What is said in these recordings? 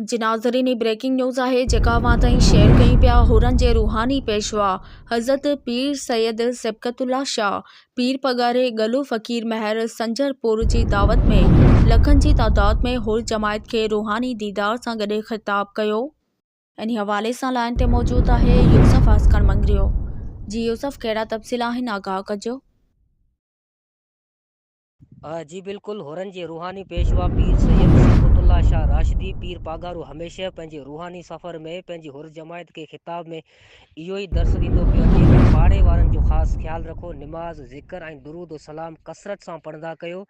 جي ناظرين هي بريڪنگ نيوز آهي جيڪا اوهان تائين شيئر ڪيون پيا حورن جي روحاني پيشوا حضرت پير سيد صبغت الله شاهه پير پڳاري ڳلو فقير مهر سنجر پور جي دعوت ۾ لکن جي تعداد ۾ حور جماعت کي روحاني ديدار سان گڏي خطاب ڪيو انهي حوالي سان لائين تي موجود آهي يوسف عسڪر مڱريو جي يوسف ڪهڙا تفصيل آهن آگاهه ڪجو. جي بلڪل، حرن جي روحاني پيشوا پير سيد صبغت الله شاهه راشدي پير پاڳارو هميشه پنهنجي روحاني سفر ۾ پنهنجي حر جماعت کي خطاب ۾ اهو ئي درس ڏيندو پيو اچي ته پاڙي وارن جو خاص خيال رکو، نماز، ذڪر ۽ درود و سلام ڪثرت سان پڙهندا ڪيو،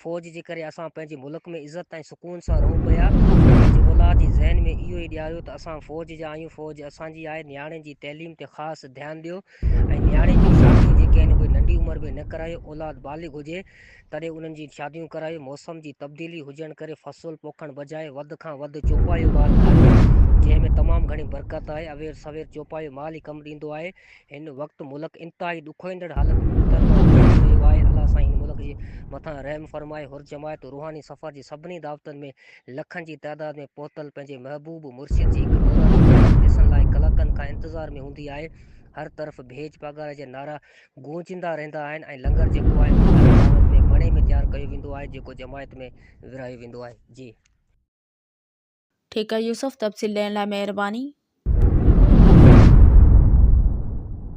فوج جي ڪري اسان پنهنجي ملڪ ۾ عزت ۽ سڪون سان رهون پيا، پنهنجي اولاد جي ذهن ۾ اهو ئي ڏياريو ته اسان فوج جا آهيون، فوج اسان جي آهي، نياڻين جي تعليم تي خاص ڌيان ڏيو. ۽ نياڻين جون شاديون جيڪي آهن اهي ننڍي عمر ۾ نه ڪرايو اولاد بالغ هجي تڏهن انهن جي شاديون ڪرايو موسم جي تبديلي هجڻ ڪري فصل پوکڻ بجاء وڌ کان وڌ چوپايو مال کائجي جنهن ۾ تمام گهڻي برڪت آهي اوير سوير چوپايو مال ئي ڪم ڏيندو آهي هن وقت ملڪ انتهائي ڏکوئيندڙ حالت ۾ رهيو آهي الله سائين هن ملڪ جي مٿان رحم فرمائي هرجماعت روحاني سفر جي سڀني دعوتن ۾ لکن جي تعداد ۾ پهتل پنهنجي محبوب مرشد جي هڪ نوراني جماعت ڏسڻ لاء ڪلاڪن کان انتظار ۾ هوندي آهي. هر طرف ڀيڄ پاڳاري جا نعرا گونجندا رهندا آهن ۽ لنگر جيڪو آهي اهو ڪنهن دعوت ۾ مڻي ۾ تيار ڪيو ويندو آهي جيڪو جماعت ۾ ورهايو ويندو آهي. جي. ٺيڪ يوسف تفصيل ڏيڻ لاء مهرباني.